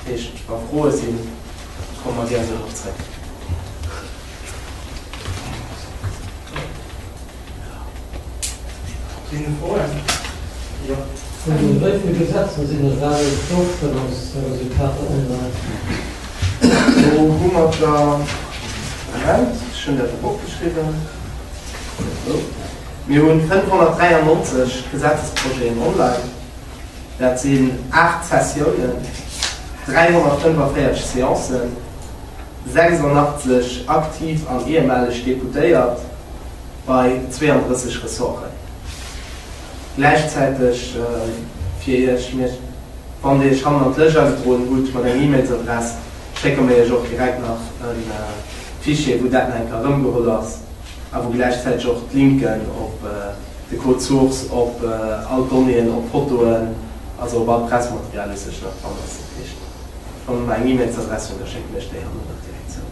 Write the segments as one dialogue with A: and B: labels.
A: Dat heescht, wa Froe sinn, komme mer gär dorop zréck. Sinn do Froen? Jo. Wéi
B: vill Gesetzer sinn et war et d'Ofstëmmungsresultater online?
A: Do hu mer der, Moment, ech hunn dat op opgeschriwwen, Mir hunn 593 Gesetzesprojeten online. Dat sinn 8 Sessiounen, 345 Seancen, 86 aktiv an ehemaleg Deputéiert bei 32 Ressorten. Gläichzäiteg fir Iech, mir, wann Dir Iech hannen an d'Lëscht agedroen hutt mat enger E-Mailsadress, schécke mir Iech och direkt nach e Fichier, wou dat nach eng Kéier erëmgeholl ass a wou gläichzäiteg och d'Linken op, De Code Source op all d'Donnéeën op Fotoen, also op all Pressematerial, is sécher an Randers ze fiichten. Wann der mer eng E-Mailsadress hunn, da schécken ech déi hannen och direkt zou.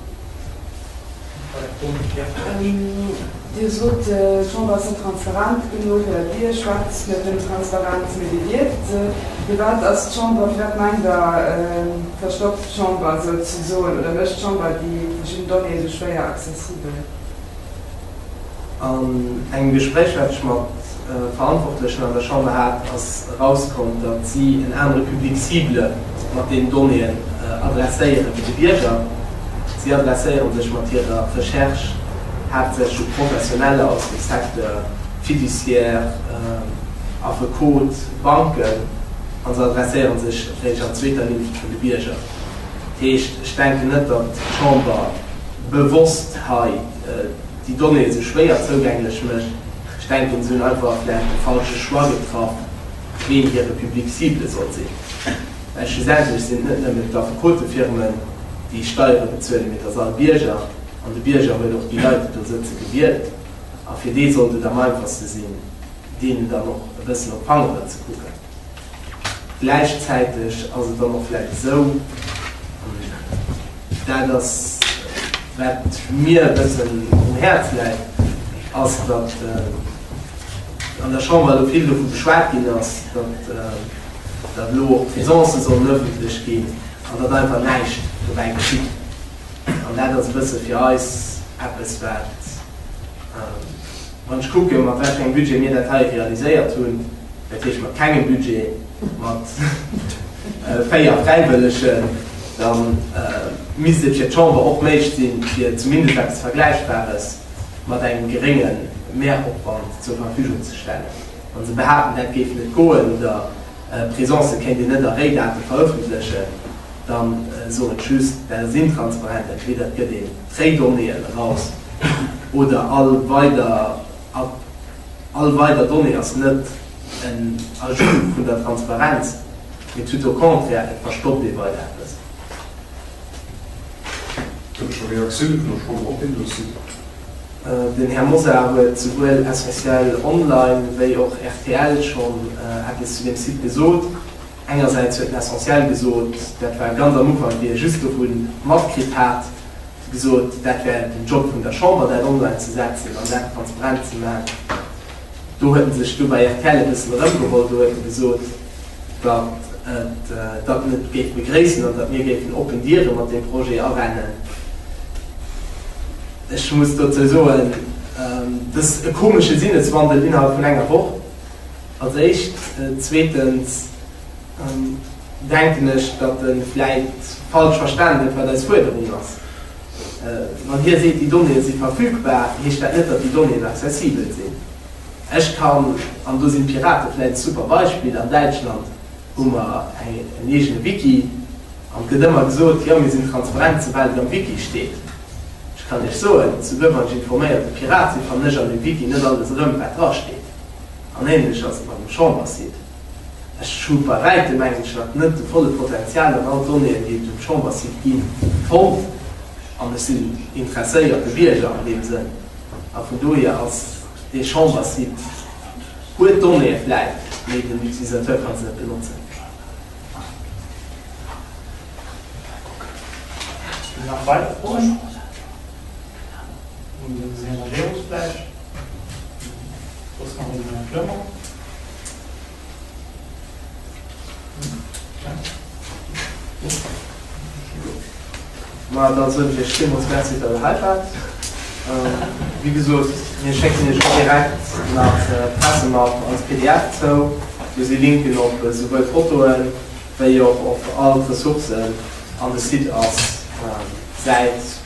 C: Dir sot, d'Chamber ass net transparent genuch. Dir schwätzt net vun Transparenz, mee Dir dierft se. Firwat ass d'Chamber, firwat mengt Der, verstoppt d'Chamber souzesoen oder mécht d'Chamber déi verschidden Donnéeë esou schwéier accessibel? An
A: engem Gespréich, wat ech mat Verantwortlechen an der Chamber hat, ass erauskomm, datt si en anere Public cible mat deenen Donnéeën adresséieren wéi de Bierger. Si adresséiere sech mat hirer Recherche haaptsächlech u Professioneller aus dem Secteur fiduciaire, Affekot, Banken, a se adresséiere sech réischt an zweeter Ligne un de Bierger. Heescht, ech denken net, datt d'Chamber bewosst hei, déi Donnéeë sou schwéier zougänglech mécht. Ech denken, se hunn einfach vläicht de falsche Choix getraff, ween hire Public cible soll sinn, well schlussendlech sinn et net nëmmen d'Affekotefirmen, déi Steiere bezuelen, mee et ass all Bierger. An de Bierger huet och déi Leit, déi do sëtze, gewielt. A fir dee sollt et am einfachste sinn, deenen dann och e bëssen op d'Fangeren ze kucken. Gläichzäiteg ass et dann och vläicht esou, an dat ass, wat mir e bëssen um Häerz läit, ass, datt an der Chamber elo vill dovu geschwat ginn ass, datt elo och d'Faisancë sollen ëffentlech ginn an datt einfach näischt dobäi geschitt. An dat ass e bësse fir eis eppes, wat. Wann ech kucken, mat wei fir engem Budget mir dat hei realiséiert hunn, dat heescht mat kengem Budget, mat véier Fräiwëllegen, da misst et fir d'Chamber och méiglech sinn, fir zumindest eppes Vergläichbares mat engem gerénge Mehropwand zur Verfügung ze stellen. Wann se behaapten, dat géif net goen oder Presencë kéint een net a Réidate verëffentlechen, da soen ech just, dat ass intransparent, entweder et gëtt een, Fake Donnéeën eraus oder all weider Up. All weider Donnée ass net en Ajout vun der Transparenz, mee tout au contraire, et verstoppt ee weider eppes. Gëtt et scho Reaktiounen vun der Chamber op deen Dossier? Den Här Mosar huet souwuel SOS-Ciel Online wéi och rtl schonn eppes zu deem Site gesot. Engersäits huet L'Essentiel gesot, dat war ganz am Ufank, wéi ee just dovun matkritt hat, gesot, dat wär den Job vun der Chamber, dat online ze setzen an dat transparent ze man. Do huet e sech du bei rtl e bëssen erëmgeholl, do huet e gesot, datt e dat net géif begréissen an datt mir géifen oppen Diere mat deem Projet arennen. Ech muss dozou soen, dës e komesche Sinneswandel innerhalb vun enger Woch. Als éischt. Zweetens denken ech, datt e vläicht falsch verstanen huet, wat eis Fuerderung ass. Wann hie seet, déi Donnéeë si verfügbar, heescht dat net, datt déi Donnéeën accessibel sinn. Ech kann, an do sinn d'Pirate vläicht e super Beispill, an Däitschland hu mer en eegene Wiki an et gëtt ëmmer gesot, jo mir sinn transparent, soubal et am Wiki steet. Ech kann Iech soen, souguer wann ech informéierte Pirat sinn, fannen ech an deem Wiki net alles erëm, wat drasteet. An ähnlech ass et mat dem Chambersite. Ech hu bei wäitem englesch nach net de volle Potential an all d'Donnéeën, déi et um Chambersite gi fonnt, an ech sinn interesséierte Bierger an deem Sënn. A vun dohier ass dee Chambersite, huet Donnéeë vläicht, mee den Utilisateur ka se net benotzen. Nach weider
D: Froen un den Här Majerus vläicht?
A: Ma da soen ech iech villmools Merci, datt der hei waart. Wéi gesot, mir schécken iech och direkt nach d'Pressemapp als pdf zou. Do si Linken op esouwuel Fotoen, wéi och op all d'Ressourcen an de Site ass Säit.